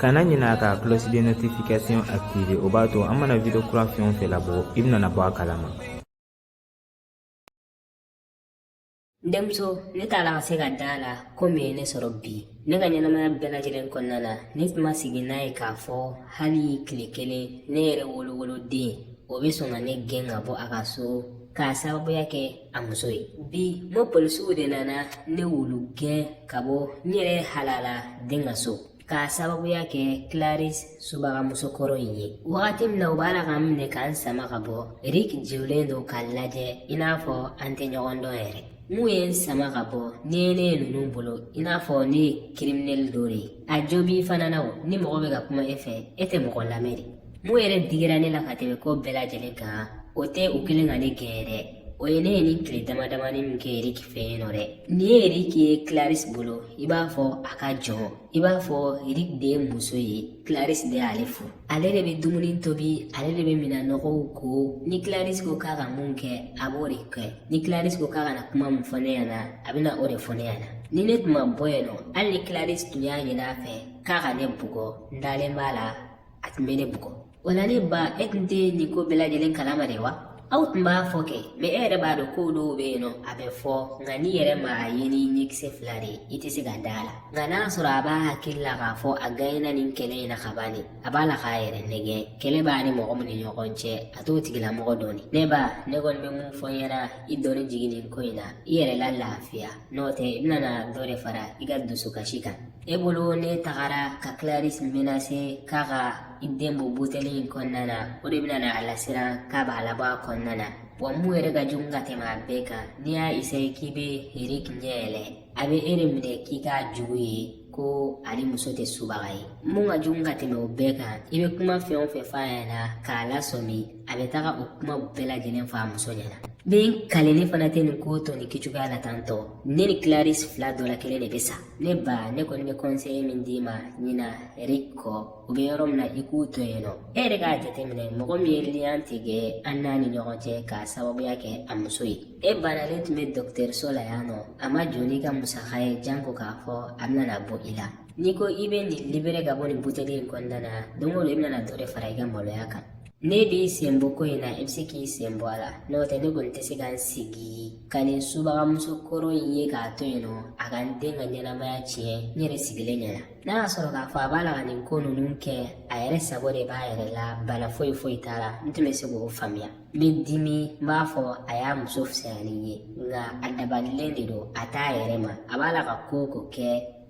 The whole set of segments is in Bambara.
kana ɲinɛ ka cloche de notification activer o b'a to an mana video kura fɛn o fɛn labɔ i bɛna bɔ a kalama denmuso ne t'a la ka se ka da a la ko min ye ne sɔrɔ bi ne ka ɲɛnamaya bɛɛ lajɛlen kɔnɔna na ne tun ma sigi n'a ye k'a fɔ hali tile kelen ne yɛrɛ wolowoloden o bɛ sɔn ka ne gɛn ka bɔ a ka so k'a sababuya kɛ a muso ye bi n bɛ polisiw de nana ne wulu gɛn ka bɔ n yɛrɛ halala den ka so k'a sababuya kɛ clarisse subagamuso kɔrɔ in ye wagati min na u b'a la ka n minɛ ka n sama ka bɔ eriki jɔlen don ka n lajɛ i n'a fɔ an tɛ ɲɔgɔn dɔn yɛrɛ mun ye n sama ka bɔ n'i ye ne ye ninnu bolo i n'a fɔ ne ye kiriminɛli dɔ de ye a jo b'i fana na o ni mɔgɔ bɛ ka kuma e fɛ e tɛ mɔgɔ lamɛn dɛ Mun yɛrɛ digira ne la ka tɛmɛ ko bɛɛ lajɛlen kan o tɛ u kɛlen ka ne gɛn dɛ o ye ne ye nin tile dama damani min kɛ eriki fɛ yen nɔ dɛ n'i ye eriki ye clarisse bolo i b'a fɔ a ka jɔn i b'a fɔ eriki de ye muso ye clarisse de y'ale furu ale de bɛ dumuni tobi ale de bɛ minɛn nɔgɔw ko ni clarisse ko k'a ka mun kɛ a b'o de kɛ ni clarisse ko k'a ka na kuma min fɔ ne ɲɛna a bɛna o de fɔ ne ɲɛna ni ne tun ma bɔ yen nɔ hali ni clarisse tun y'a ɲini a fɛ k'a ka ne bugɔ n dalen b'a la a tun bɛ ne bugɔ o la ne ba e tun tɛ nin ko bɛɛ lajɛlen kalama de wa aw tun b'a fɔ kɛ mɛ e yɛrɛ b'a dɔn ko dɔw bɛ yen nɔ a bɛ fɔ nka n'i yɛrɛ ma a ye n'i ɲɛkisɛ fila de ye i tɛ se ka da a la nka n'a sɔrɔ a b'a hakili la k'a fɔ a ganyana nin kɛlɛ in na ka ban de a b'a la k'a yɛrɛ nɛgɛn kɛlɛ b'a ni mɔgɔ min ni ɲɔgɔn cɛ a t'o tigilamɔgɔ dɔn ne ba ne kɔni bɛ mun fɔ i ɲɛna i doni jigin nin ko in na i yɛrɛ la lafiya n'o tɛ i bɛna dɔ de fara i ka dusukasi kan e bolo n'e tagara ka clarisse menacer k'a ka i den bɔ buteli in kɔnɔna na o de bɛna na a lasiran k'a b'a labɔ a kɔnɔna na wa mun yɛrɛ ka jugu ka tɛmɛ a bɛɛ kan n'i y'a isaye k'i bɛ eriki ɲɛ yɛlɛ a bɛ e de minɛ k'i k'a jugu ye ko ale muso tɛ subaga ye mun ka jugu ka tɛmɛ o bɛɛ kan i bɛ kuma fɛn o fɛn f'a ɲɛna k'a lasɔmi a bɛ taga o kuma bɛɛ lajɛlen fɔ a muso ɲɛna dɛ n kalen ne fana tɛ nin ko to nin kɛcogoya la tantɔ ne ni clarisse fila dɔ la kelen de bɛ sa ne ba ne kɔni bɛ kɔnseye min d'i ma ɲina eriki kɔ u bɛ yɔrɔ min na i k'u to yen nɔ e yɛrɛ k'a jateminɛ mɔgɔ min ye liyan tigɛ an n'a ni ɲɔgɔn cɛ k'a sababuya kɛ a muso ye e banalen tun bɛ dɔgɔtɔrɔso la yan nɔ a ma jɔ n'i ka musaka ye janko k'a fɔ a bɛna bɔ i la n'i ko i bɛ nin libere ka bɔ nin buteli in kɔnɔna na don o don i bɛna dɔ de fara i ka maloya kan N'e b'i senbɔ ko in na i bɛ se k'i senbɔ a la n'o tɛ ne kɔni tɛ se ka n sigi ka nin subagamuso kɔrɔ in ye k'a to yen nɔ a ka n den ka ɲɛnamaya tiɲɛ n yɛrɛ sigilen ɲɛna n'a y'a sɔrɔ k'a fɔ a b'a la ka nin ko ninnu kɛ a yɛrɛ sago de b'a yɛrɛ la bana foyi foyi t'a la n tun bɛ se k'o faamuya n bɛ dimi n b'a fɔ a y'a muso fisaya ni n ye nka a dabalilen de don a t'a yɛrɛ ma a b'a la ka ko o ko kɛ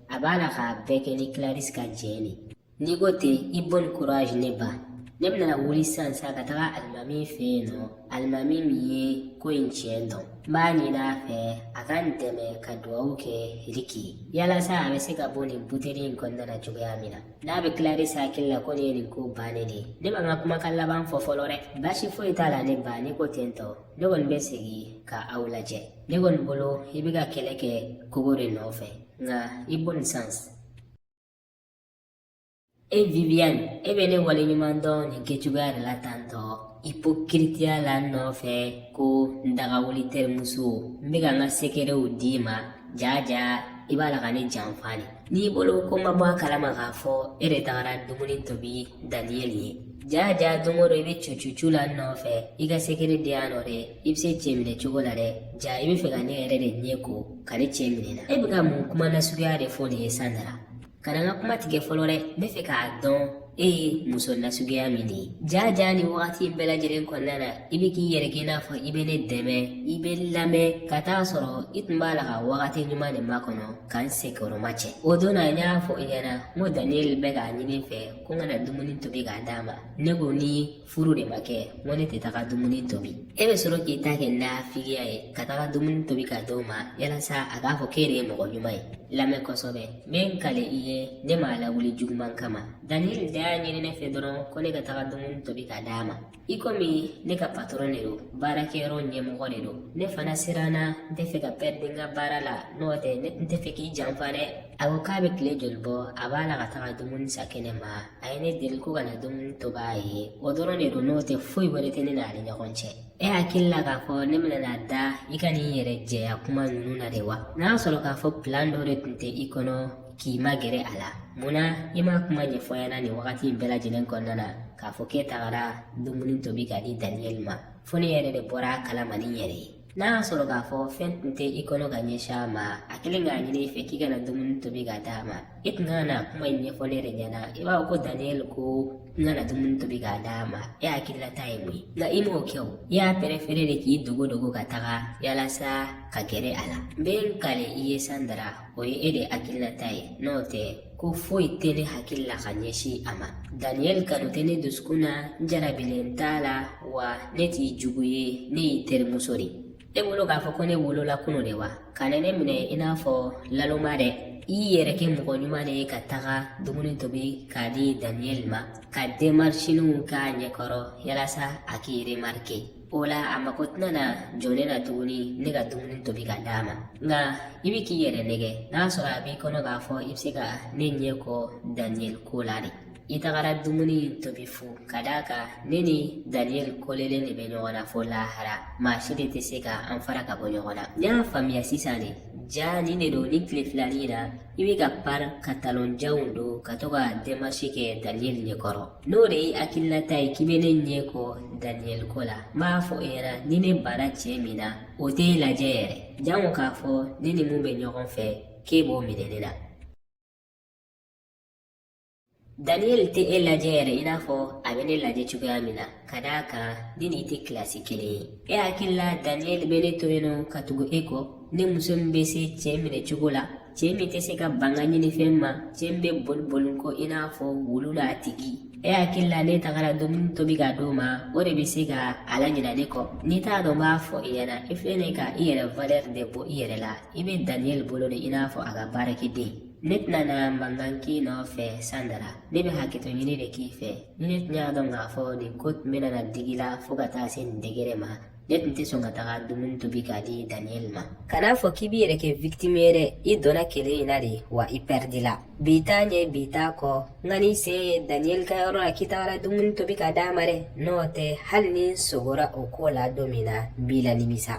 a b'a la k'a bɛɛ kɛ ni clarisse ka jɛn de n'i ko ten i bon courage ne ba ne bɛna wuli sisan sa ka taga alimami fɛ yen nɔ alimami min ye ko in tiɲɛ dɔn n b'a ɲini a fɛ a ka n dɛmɛ ka dugawu kɛ riki ye yalasa a bɛ se ka bɔ nin buteli in kɔnɔna na cogoya min na n'a bɛ kilarisi hakili la ko nin ye nin ko bannen de ye ne ma n ka kumakan laban fɔ fɔlɔ dɛ baasi foyi t'a la ne ba ne ko ten tɔ ne kɔni bɛ segin ka aw lajɛ ne kɔni bolo i bɛ ka kɛlɛ kɛ kogo de nɔfɛ nka i bonne chance E Viviane e bɛ ne waleɲuman dɔn nin kɛcogoya de la tantɔ ipokiritiya la n nɔfɛ ko n dagawuli terimuso n bɛ ka n ka sekerew d'i ma jaa jaa i b'a la ka ne janfa de n'i bolo ko n ma bɔ a kalama k'a fɔ e de tagara dumuni tobi daniyɛli ye jaa jaa don o don i bɛ cucucu la n nɔfɛ i ka sekere di yan nɔ dɛ i bɛ se cɛ minɛ cogo la dɛ jaa i bɛ fɛ ka ne yɛrɛ de ɲɛ ko ka ne cɛ minɛ n na e bɛ ka mun kuma nasuguya de fɔ nin ye Sandra kana n ka kuma tigɛ fɔlɔ dɛ n bɛ fɛ k'a dɔn e ye muso nasuguya min de ye jaa jaa nin wagati bɛɛ lajɛlen kɔnɔna na i bɛ k'i yɛrɛ kɛ i n'a fɔ i bɛ ne dɛmɛ i bɛ n lamɛn ka taa sɔrɔ i tun b'a la ka wagati ɲuman de makɔnɔ ka n senkɔrɔmacɛ o don na n y'a fɔ i ɲɛna n ko daniyɛli bɛ k'a ɲini n fɛ ko n ka na dumuni tobi k'a d'a ma ne ko ni furu de ma kɛ n ko ne tɛ taga dumuni tobi e bɛ sɔrɔ k'i ta kɛ nafigiya ye ka taga dumuni tobi ka d'o ma yalasa a k'a fɔ k'e de ye mɔgɔ ɲuman ye lamɛn kosɛbɛ n bɛ n kale i ye ne m'a lawuli juguman kama daniyɛli de y'a ɲini ne fɛ dɔrɔn ko ne ka taga dumuni tobi ka d'a ma i komi ne ka patɔrɔn de don baarakɛyɔrɔ ɲɛmɔgɔ de don ne fana siranna n tɛ fɛ ka pɛridi n ka baara la n'o tɛ ne tun tɛ fɛ k'i janfa dɛ a ko k'a bɛ tile joli bɔ a b'a la ka taga dumuni san kɛnɛ ma a ye ne deli ko ka na dumuni tobi a ye o dɔrɔn de don n'o tɛ foyi wɛrɛ tɛ ne n'ale ɲɔgɔn cɛ e hakili la k'a fɔ ne bɛna na da i ka nin yɛrɛ jɛya kuma ninnu na de wa n'a y'a sɔrɔ k'a fɔ pilan dɔ de tun tɛ i kɔnɔ k'i magɛrɛ a la munna i ma kuma ɲɛfɔ n ɲɛna nin wagati in bɛɛ lajɛlen kɔnɔna na k'a fɔ k'e tagara dumuni tobi ka di daniyɛli ma fo ne yɛrɛ de bɔra a kalama n yɛrɛ ye n'a y'a sɔrɔ k'a fɔ fɛn tun tɛ i kɔnɔ ka ɲɛsin a ma a kɛlen k'a ɲini i fɛ k'i ka na dumuni tobi ka d'a ma i tun ka na kuma in ɲɛfɔ ne yɛrɛ ɲɛna i b'a fɔ ko daniyɛl ko n ka na dumuni tobi k'a d'a ma e hakilinata ye mun ye nka i m'o kɛ o i y'a pɛrɛfere de k'i dogo dogo ka taga yalasa ka gɛrɛ a la n bɛ n kale i ye Sandra o ye e de hakilinata ye n'o tɛ ko foyi tɛ ne hakili la ka ɲɛsin a ma daniyɛli kanu tɛ ne dusukun na n jarabilen t'a la wa ne t'i jugu ye ne y'i terimuso de ye e bolo k'a fɔ ko ne wolola kunu de wa ka na ne minɛ i n'a fɔ naloma dɛ i yɛrɛ kɛ mɔgɔ ɲuman de ye ka taga dumuni tobi k'a di daniyɛli ma ka demarisininw k'a ɲɛkɔrɔ yalasa a k'i remarike o la a mako tɛna na jɔ ne na tuguni ne ka dumuni tobi ka d'a ma nka i bɛ k'i yɛrɛ nɛgɛn n'a sɔrɔ a b'i kɔnɔ k'a fɔ i bɛ se ka ne ɲɛ kɔ daniyɛli ko la de i tagara dumuni in tobi fu ka d'a kan ne ni daniyɛli kɔlelen de bɛ ɲɔgɔn na fo lahara maa si de tɛ se ka an fara ka bɔ ɲɔgɔn na n y'a faamuya sisan de jaa nin de don nin tile fila nin na i bɛ ka pari ka talonjanw don ka to ka demarisi kɛ daniyɛli ɲɛkɔrɔ n'o de y'i hakilinata ye k'i bɛ ne ɲɛ kɔ daniyɛli ko la n b'a fɔ e ɲɛna ni ne bara cɛ min na o tɛ e lajɛ yɛrɛ jango k'a fɔ ne ni min bɛ ɲɔgɔn fɛ k'e b'o minɛ ne la daniyɛli tɛ e lajɛ yɛrɛ i n'a fɔ a bɛ ne lajɛ cogoya min na ka d'a kan ne n'i tɛ kilasi kelen ye e hakili la daniyɛli bɛ ne to yen nɔ ka tugu e kɔ ne muso min bɛ se cɛ minɛ cogo la Cɛ min tɛ se ka ban n ka ɲinifɛn ma cɛ min bɛ boli boli n kɔ i n'a fɔ wulu la a tigi e hakili la n'e tagara dumuni tobi ka d'o ma o de bɛ se ka a laɲina ne kɔ n'i t'a dɔn n b'a fɔ i ɲɛna i filɛ ne ka i yɛrɛ valɛri de bɔ i yɛrɛ la i bɛ daniyɛli bolo de i n'a fɔ a ka baarakɛden ne tɛna na mankan k'i nɔfɛ sandara ne bɛ hakɛto ɲini de k'i fɛ ni ne tun y'a dɔn k'a fɔ nin ko tun bɛ na digi i la fo ka taa se nin degere ma ne tun tɛ sɔn ka taga dumuni tobi k'a di daniyɛli ma kan'a fɔ k'i b'i yɛrɛ kɛ vikitimi ye dɛ i donna kɛlɛ in na dɛ wa i pɛridila bi t'a ɲɛ bi t'a kɔ n kan'i sen ye daniyɛli ka yɔrɔ la k'i tagara dumuni tobi ka d'a ma dɛ n'o tɛ hali ni n sogora o ko la don min na n b'i lanimisa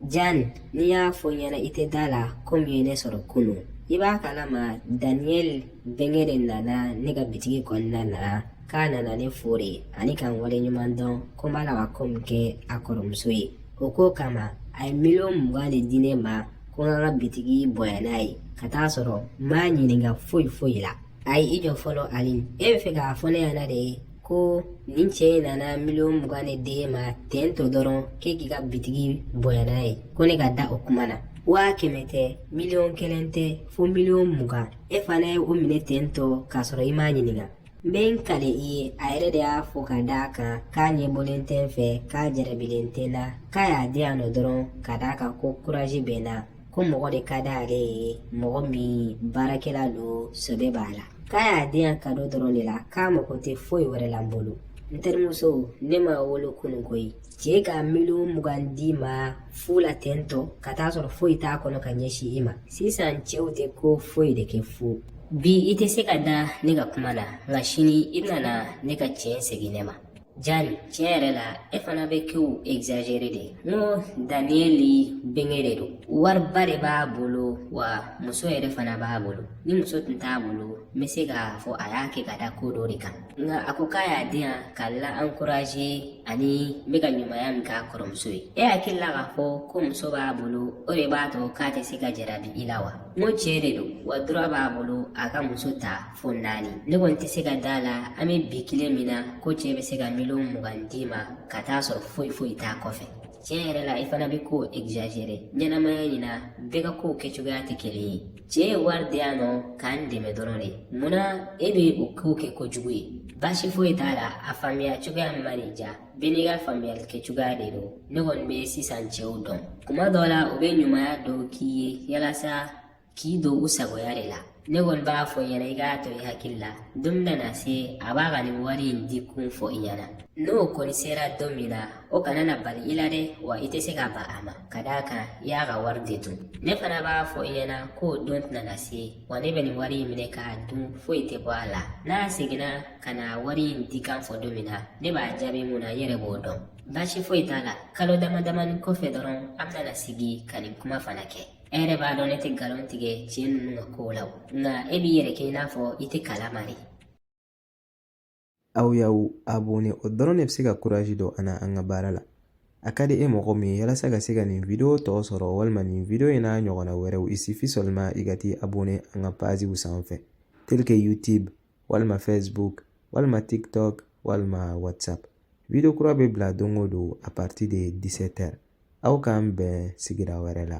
Jan ni n y'a fɔ i ɲɛna i tɛ da a la ko min ye ne sɔrɔ kunun i b'a kalama daniyɛli bɛnkɛ de nana ne ka bitigi kɔnɔna na k'a nana ne fo de ani ka n waleɲumandɔn ko n b'a la ka ko min kɛ a kɔrɔmuso ye o ko kama a ye miliyɔn mugan de di ne ma ko n ka bitigi bonya n'a ye ka t'a sɔrɔ n m'a ɲininka foyi foyi la ayi i jɔ fɔlɔ ali e b'a fɛ k'a fɔ ne ɲɛna de ye ko nin cɛ in nana miliyɔn mugan de d'e ma ten tɔ dɔrɔn k'e k'i ka bitigi bonya n'a ye ko ne ka da o kuma na waa kɛmɛ tɛ miliyɔn kelen tɛ fo miliyɔn mugan e fana ye o minɛ ten tɔ k'a sɔrɔ i m'a ɲininka n bɛ n kali i ye a yɛrɛ de y'a fɔ ka d'a kan k'a ɲɛ bɔlen tɛ n fɛ k'a jarabilen tɛ n na k'a y'a di yan nɔ dɔrɔn ka d'a kan ko kurazi bɛ n na ko mɔgɔ de ka di ale ye mɔgɔ min baarakɛla don sɛbɛ b'a la k'a y'a di n ma kado dɔrɔn de la k'a mago tɛ foyi wɛrɛ la n bolo n terimuso ne ma wolo kunun koyi cɛ ka miliyɔn mugan d'i ma fu la ten tɔ ka t'a sɔrɔ foyi t'a kɔnɔ ka ɲɛsin i ma sisan cɛw tɛ ko foyi de kɛ fu bi i tɛ se ka da ne ka kuma na nka sini i bɛna ne ka tiɲɛ segin ne ma jani tiɲɛ yɛrɛ la e fana bɛ kow exagere de n ko daniyɛli benge de don wariba de b'a bolo wa muso yɛrɛ fana b'a bolo ni muso tun t'a bolo n bɛ se k'a fɔ a y'a kɛ ka da ko dɔ de kan nka a ko k'a y'a di yan ka la encourager ani n bɛ ka ɲumanya min k'a kɔrɔmuso ye e hakili la k'a fɔ ko muso b'a bolo o de b'a to k'a tɛ se ka jarabi i la wa n ko cɛ de don wa droit b'a bolo a ka muso ta fo naani ne kɔni tɛ se ka d'a la an bɛ bi kile min na ko cɛ bɛ se ka miliyɔn mugan d'i ma ka t'a sɔrɔ foyi foyi t'a kɔfɛ tiɲɛ yɛrɛ la i fana bɛ ko egzazere ɲɛnamaya in na bɛɛ ka kow kɛcogoya tɛ kelen ye cɛ ye wari di yan nɔ k'an dɛmɛ dɔrɔn de munna e bɛ o kow kɛ kojugu ye baasi foyi t'a la a faamuya cogoya min ma diya bɛɛ n'i ka faamuyali kɛcogoya de don ne kɔni bɛ sisan cɛw dɔn kuma dɔw la u bɛ ɲumanya dɔw k'i ye yalasa k'i don u sagoya de la ne kɔni b'a fɔ i ɲɛna i k'a to i hakili la don bɛna se a b'a ka nin wari in di kun fɔ i ɲɛna n'o kɔni sera don min na o kana na bali i la dɛ wa i tɛ se ka ban a ma ka d'a kan i y'a ka wari de dun ne fana b'a fɔ i ɲɛna k'o don tɛna na se wa ne bɛ nin wari in minɛ k'a dun foyi tɛ bɔ a la n'a seginna ka na wari in di kun fɔ don min na ne b'a jaabi mun na n yɛrɛ b'o dɔn baasi foyi t'a la kalo dama damani kɔfɛ dɔrɔn an bɛna sigi ka nin kuma fana kɛ e yɛrɛ b'a dɔn ne tɛ nkalon tigɛ cɛ ninnu ka kow la nka e b'i yɛrɛ kɛ i n'a fɔ i t'a kalama de aw y'aw abonné o dɔrɔn de bɛ se ka kurazi don an na an ka baara la a ka di e mɔgɔ min ye yalasa ka se ka nin video tɔ sɔrɔ walima nin video in n'a ɲɔgɔnna wɛrɛw il suffit seulement i ka t'i abonné an ka paziw sanfɛ tel que youtube walima facebook walima tiktok walima whatsapp video kura bɛ bila don o don à partir de 17 heures aw k'an bɛn sigida wɛrɛ la